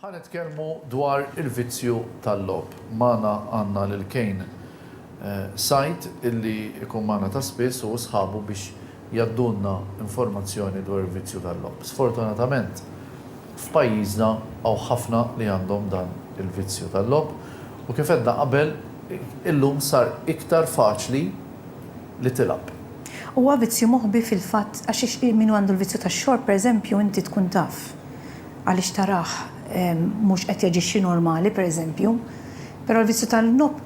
Ħa nitkellmu dwar il-vizzju tal-logħob. Magħna għandna lil Kane Said illi jkun magħna ta' spiss hu u sħabu biex jgħaddulna informazzjoni dwar il-vizzju tal-logħob. Sfortunatament f'pajjiżna hawn ħafna li għandhom dan il-vizzju tal-logħob u kif għedna qabel illum sar iktar faċli li tilgħab. Huwa vizzju moħbi fil-fatt għax min għandu l-vizzju tax-xorb pereżempju inti tkun taf għaliex tarah mhux qed jaġixxi normali pereżempju. Però l-vizzju tal-nob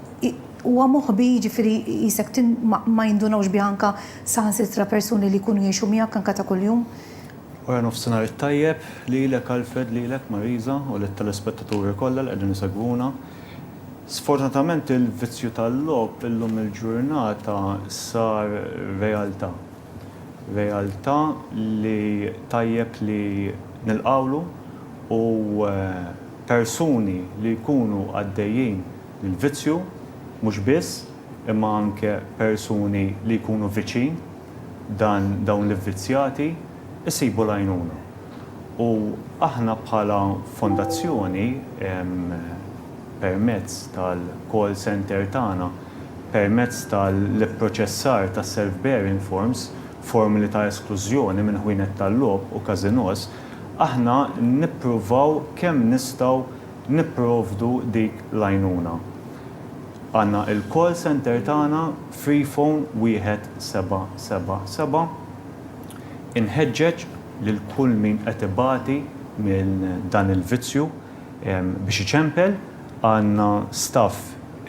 huwa moħbi jiġifieri qisek ma jindunawx bih anke saħansitra persuni li jkunu jgħixu miegħek anke ta' kuljum. Wara nofsinhar it-tajjeb lilek Alfred, lilek Marisa u lit-telespettaturi kollha li qegħdin isegwuna. Sfortunatament il-vizzju tal-logħob illum il-ġurnata sar realtà. Realtà li tajjeb li nilqgħulu u persuni li jkunu għaddejjin minn vizzju mhux biss imma anke persuni li jkunu viċin, dan dawn l-ivvizzjati jsibu l-għajnuna. U aħna bħala fondazzjoni permezz tal-call centre tagħna, permezz tal-ipproċessar ta' self bearing forms, formuli ta' esklużjoni minn ħwienet tal-logħob u każinòs, aħna nippruvaw kemm nistgħu nipprovdu dik l-għajnuna. Għandna il-call centre tagħna Free Phone 1777. Inħeġġeġ lil kull min qed ibati minn dan il-vizzju biex iċempel, għandna staff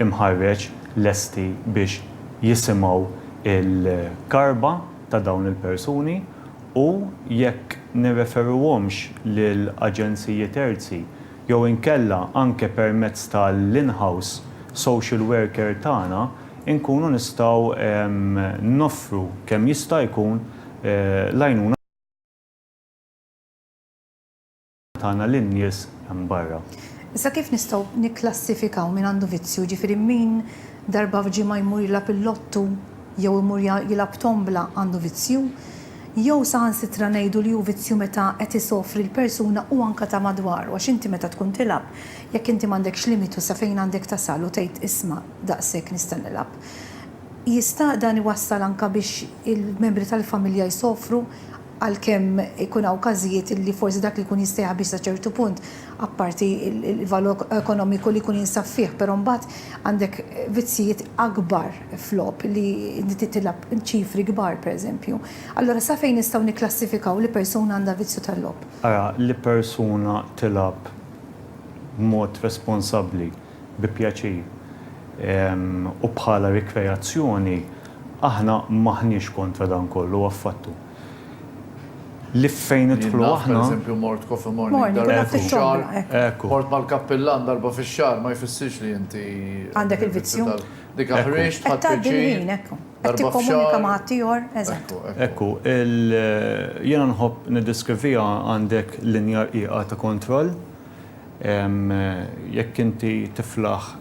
imħarreġ lesti biex jisimgħu l-karba ta' dawn il-persuni u, jekk nirreferuhomx lil aġenziji terzi jew inkella anke permezz ta' l-in-house social worker tagħna, inkunu nistgħu noffru kemm jista' jkun l-għajnuna. tagħna lin-nies hemm barra. Issa kif nistgħu nikklassifikaw min għandu vizzju, jiġifieri min darba f'ġimgħa jmur jilgħab il-lottu jew imur jilgħab tombla għandu vizzju? Jew saħansitra ngħidu li hu vizzju meta qed isofri l-persuna u anke ta' madwaru għax inti meta tkun tilgħab jekk inti m'għandekx limitu sa fejn għandek tasal u tgħid isma' daqshekk nista' nilgħab jista' dan iwassal anke biex il-membri tal-familja jsofru għalkemm ikun hawn każijiet li forsi dak li jkun jista' jħabbix sa ċertu punt, apparti l-valur ekonomiku li jkun jinsab fih, però mbagħad għandek vizzijiet akbar f'logħob li inti tilgħab ċifri kbar, pereżempju. Allura sa fejn nistgħu nikklassifikaw li persuna għandha vizzju tal-logħob? Ara, li persuna tilgħab b'mod responsabbli. bi pjaċir u bħala rikreazzjoni aħna m'aħniex kontra dan kollu affattu. Li fejn nidħlu aħna. Jien naf pereżempju mort coffee morning darba fix-xahar. Hekk. Mort mal-kappillan darba fix-xahar ma jfissirx li inti. Għandek il-vizzju. Dik aħriġt tħadd pjaċir. Qed tgħaddi l-ħin hekk. Qed tikkomunika ma' ħaddieħor. Eżatt. Hekk hu. Jiena nħobb niddeskriviha għandek linja rqiqa ta' kontroll. Jekk inti tiflaħ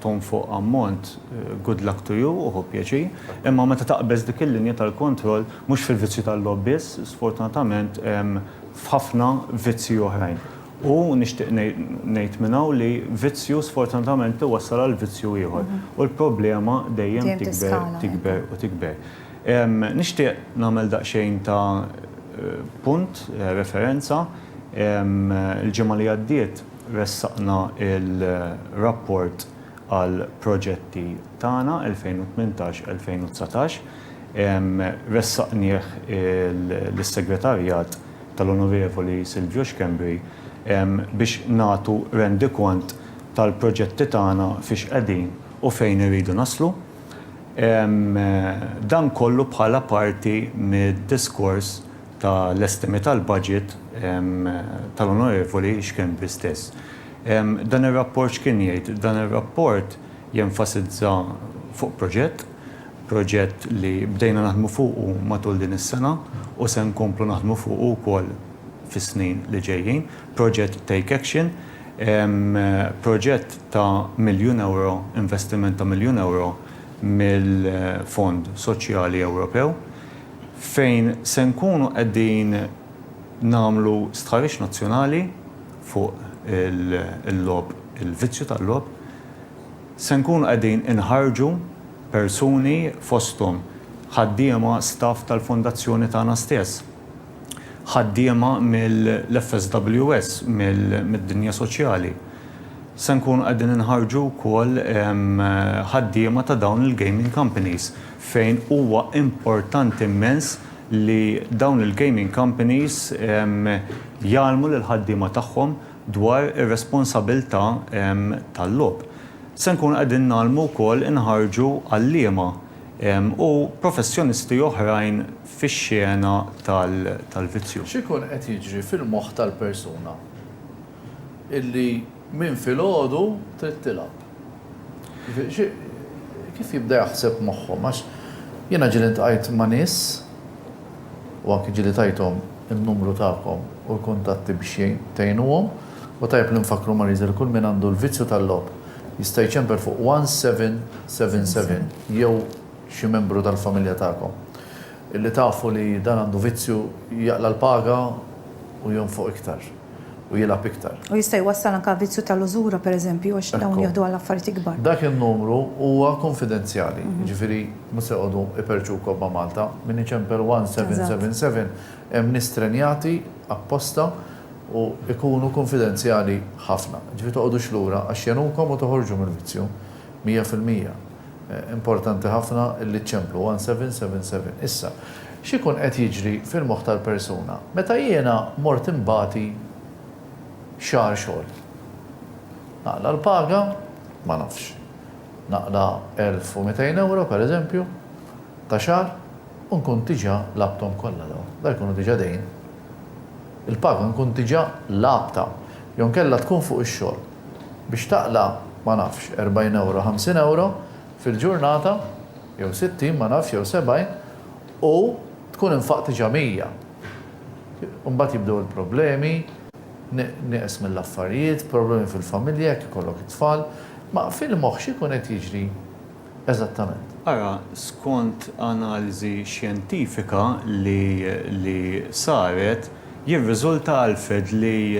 tonfoq ammont, good luck to you u ħu pjaċir. Imma meta taqbeż dik il-linja tal-kontroll, mhux fil-vizzju tal-logħob biss, sfortunatament f'ħafna vizzji oħrajn. U nixtieq ngħid minn hawn li vizzju sfortunatament iwassal għal vizzju ieħor. U l-problema dejjem tikber, tikber u tikber. Nixtieq nagħmel daqsxejn ta' punt, referenza. Il-ġimgħa li għaddiet ressaqna l-rapport għall-proġetti tagħna 2018-2019. Ressaqnieh lis-Segretarjat tal-Onorevoli Silvio Schembri biex nagħtu rendikont tal-proġetti tagħna fiex qegħdin u fejn irridu naslu. Dan kollu bħala parti mid-diskors ta' l-estimi tal-budget tal-Onorevoli Schembri stess. Dan ir-rapport x'kien jgħid? Dan ir-rapport jenfasizza fuq proġett, proġett li bdejna naħdmu fuqu matul din is-sena u se nkomplu naħdmu fuqu wkoll fis-snin li ġejjin, proġett Take Action, Proġett ta' miljun ewro, investiment ta' miljun ewro mill-Fond Soċjali Ewropew fejn se nkunu qegħdin nagħmlu stħarriġ nazzjonali fuq il-logħob, il-vizzju tal-logħob. Se nkunu qegħdin inħarrġu persuni fosthom ħaddiema, staff tal-Fondazzjoni tagħna stess. ħaddiema mill-FSWS, mid-dinja soċjali. Se nkunu qegħdin inħarġu wkoll ħaddiema ta' dawn il-gaming companies fejn huwa importanti immens li dawn il-gaming companies jgħallmu lill-ħaddiema tagħhom dwar ir-responsabilità tal-logħob. Se nkunu qegħdin ngħallmu wkoll inħarġu għalliema u professjonisti oħrajn fix-xena tal-vizzju. X'ikun qed jiġri fil-moħħ tal-persuna illi minn filgħodu trid tilgħab? Kif jibda jaħseb moħħhom? Għax jiena ġieli ltqajt ma' nies u anki ġieli tajthom in-numru tagħkom u l-kuntatti biex tgħinuhom u tajjeb li nfakkru Marie José li kull min għandu l-vizzju tal-logħob Jista' jċemper fuq 1777 jew xi membru tal-familja tagħkom. Illi tafu li dan għandu vizzju jaqla' l-paga u jonfoq iktar. U jilgħab iktar. U jista' jwassal anke għavizzju tal-użura pereżempju għax dawn jieħdu għal affarijiet ikbar. Dak in-numru huwa kunfidenzjali, jiġifieri mhux se jqogħdu iperrċu kobba Malta. Min iċemper 1777 hemm nies trenjati apposta u jkunu kunfidenzjali ħafna. Jiġifieri toqgħodux lura għax jegħnukom u toħorġu mill-vizzju mija fil-mija. Importanti ħafna li ċċemplu 1777. Issa, x'ikun qed jiġri fil-moħħ tal-persuna? Meta jiena mort inbati xahar xogħol, naqla' l-paga? Ma nafx. Naqla' elf u mitejn ewro, pereżempju, ta' xahar u nkun diġà lagħbthom kollha dawn. Dawn jkunu diġà dejn. il-paga nkun diġà lagħabtha jew inkella tkun fuq ix-xogħol. Biex taqla', ma nafx, 40 ewro, 50 ewro fil-ġurnata, jew 60, ma nafx, jew 70, u tkun infaqt diġà 100. Imbagħad jibdew il-problemi, nieqes mill-affarijiet, problemi fil-familja jekk ikollok it-tfal. Ma fil-moħħ x'ikun qed jiġri? Eżattament. Ara, skont analiżi xjentifika li li saret, jirriżulta, Alfred, li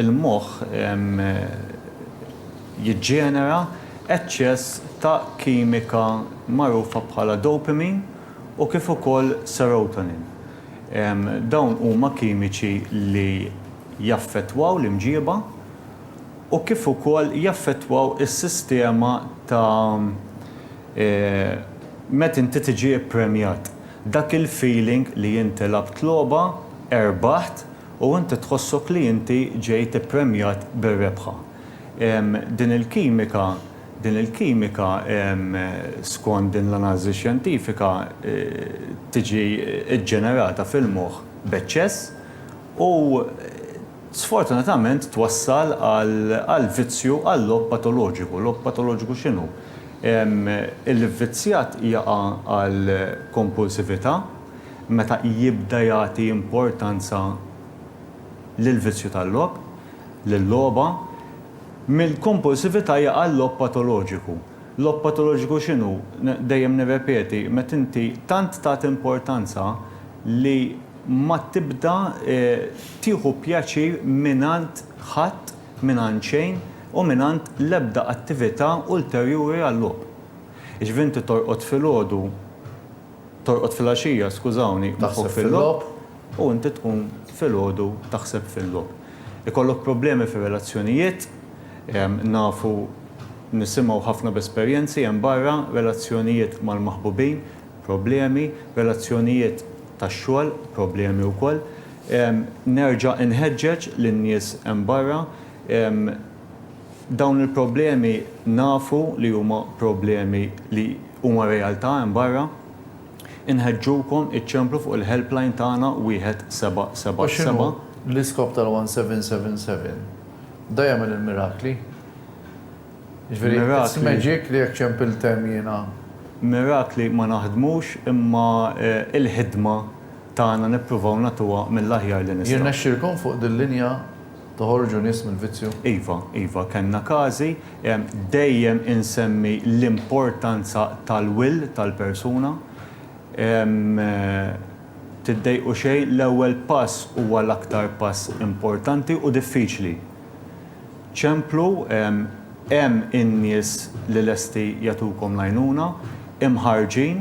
l-moħħ jiġġenera eċċess ta' kimika magħrufa bħala dopamine u kif ukoll serotonin. Dawn huma kimiċi li jaffettwaw l-imġieba. u kif ukoll jaffettwaw is-sistema ta' meta inti tiġi ppremjat. Dak il-feeling li inti lgħabt logħba, erbaħt u inti tħossok li inti ġejt ippremjat bir-rebħa. Din il-kimika, din il-kimika skont din l-analiżi xjentifika tiġi ġġenerata fil-moħħ b'eċċess u sfortunatament twassal għal vizzju għal-logħob patoloġiku. Logħob patoloġiku x'inhu? Il-vvizzjat jaqa' għal kompulsività meta jibda jagħti importanza lill-vizzju tal-logħob, lil-logħba. Mill-kompulsività jaqa' l-logħob patoloġiku. Logħob patoloġiku x'inhu? Dejjem nirrepeti, meta inti tant tagħti importanza li ma tibda tieħu pjaċir mingħand ħadd, mingħand xejn u mingħand l-ebda attività ulterjuri għal-logħob. Jiġifieri inti torqod filgħodu, torqod filgħaxija, skużawni, moħħok fil-logħob u inti tqum filgħodu taħseb fil-logħob. Ikollok problemi fir-relazzjonijiet, nafu, nisimgħu ħafna b'esperjenzi hemm barra, relazzjonijiet mal-maħbubin, problemi, relazzjonijiet tax-xogħol problemi wkoll. Nerġa' inħeġġeġ lin-nies hemm barra, dawn il-problemi nafu li huma problemi li huma realtà hemm barra, inħeġġukom iċċemplu fuq il-helpline tagħna wieħed seba' seba' seba'. U x'inhu l-iskop tal-one seven seven seven? Da jagħmel il-mirakli? Jiġifieri, it's magic li jekk ċempilt hemm jiena. Mirakli ma naħdmux imma l-ħidma tagħna nippruvaw nagħtuha mill-aħjar li nistgħu. Jirnexxilkom fuq dil-linja toħorġu nies mill-vizzju? Iva, iva, kellna każi. Dejjem insemmi l-importanza tal-will tal-persuna. Tiddejqu xejn, l-ewwel pass huwa l-aktar pass importanti u diffiċli. Ċemplu, Hemm in-nies li lesti jagħtukom l-għajnuna, imħarrġin.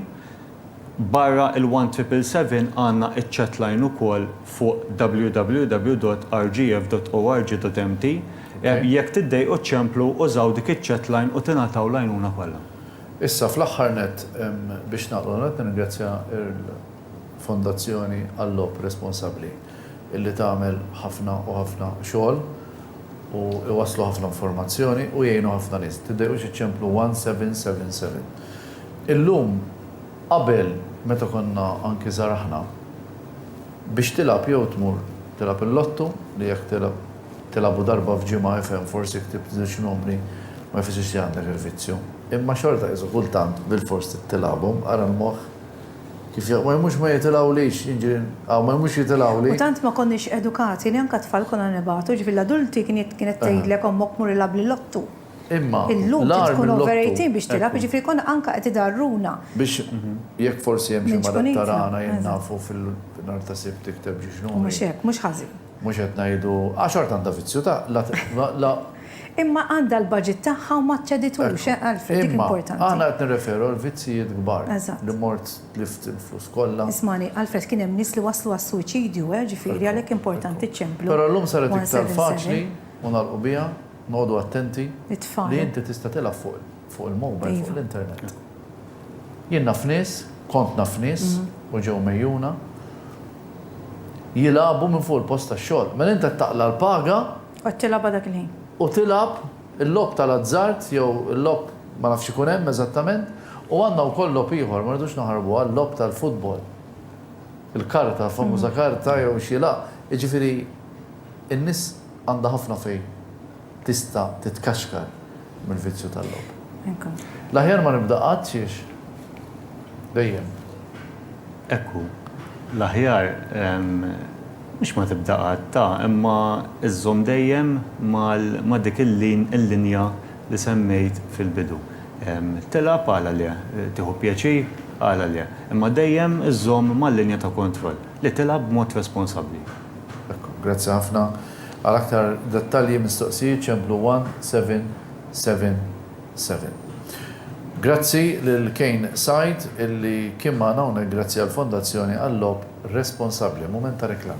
Barra il-one triple seven għandna iċ-chatline ukoll fuq www.rgf.org.mt. Jekk tiddejqu ċċemplu, użaw dik iċ-chatline u tingħataw l-għajnuna kollha. Issa fl-aħħar nett biex nagħlqu, nirringrazzja l. Fondazzjoni għal-Logħob Responsabbli illi tagħmel ħafna u ħafna xogħol u iwasslu ħafna informazzjoni u jgħinu ħafna nies. Tiddejqux iċċemplu 1777. Illum qabel meta konna anki żgħar aħna biex tilgħab jew tmur tilgħab il-lottu li jekk tilgħab tilgħabu darba f'ġimgħa ifhem forsi ktibt żewġ numri ma jfissirx li għandek il-vizzju. Imma xorta qisu kultant bilfors trid tilgħabhom ara l-moħħ. Kif jgħidu, ma jmux ma jitilgħulix, jiġifieri, hawn ma jmux jitilgħuli. U tant ma konniex edukati li anke t-tfal konna nibagħtu, jiġifieri l-adulti kienet tgħidlek ommok mur ilgħab lill-ottu. Imma l-agħar mill-ottu. Illum trid tkun over 18 biex tilgħab, jiġifieri konna anke qed idgħarruna. Biex jekk forsi hemm xi marad ta' ragħna jien nafu fil-nhar ta' Sibt tikteb ġiġnuni. U mhux hekk, mhux ħażin. Mhux qed ngħidu, għax art għandha vizzju ta' la Imma għandha l-budget tagħha u ma ċċeditux, eh, Alfred, dik importanti. Imma, aħna qed nirreferu għal vizzijiet kbar. Eżatt. Li mort tlift il-flus kollha. Ismagħni, Alfred, kien hemm nies li waslu għas-suwiċidju, eh, ġifieri għalhekk importanti ċċemplu. Però llum saret iktar faċli, u nagħlqu biha, noqogħdu attenti, li inti tista' tilgħab fuq fuq il-mobile, fuq l-internet. Jien naf nies, kont naf nies, u ġew mgħejjuna, jilagħbu minn fuq il-post tax-xogħol. Mela int qed taqla' l-paga Qed tilgħabha dak il-ħin. U tilgħab il-logħob tal-azzard jew il-logħob ma nafx x'ikun hemm eżattament, u għandna wkoll logħob ieħor, ma rridux naħarbuha, l-logħob tal-futbol. Il-karta, l-famuża karta jew xi la. Jiġifieri n-nies għandha ħafna fejn tista' titkaxkar mill-vizzju tal-logħob. L-aħjar ma nibda qatt xiex dejjem. Hekk hu. L-aħjar Mhux ma tibda qatt ta' imma żżomm dejjem mal ma' dik il-linja li semmejt fil-bidu. Tilgħab għala le, tieħu pjaċir għala le, imma dejjem żżomm mal-linja ta' kontroll, li tilgħab b'mod responsabbli. Ekku, grazzi ħafna. Għal aktar dettalji, mistoqsijiet, ċemplu 1777. Grazzi lil Kane Said illi kien magħna hawnhekk grazzi għall-Fondazzjoni għal-Logħob responsabbli, mument ta' reklam.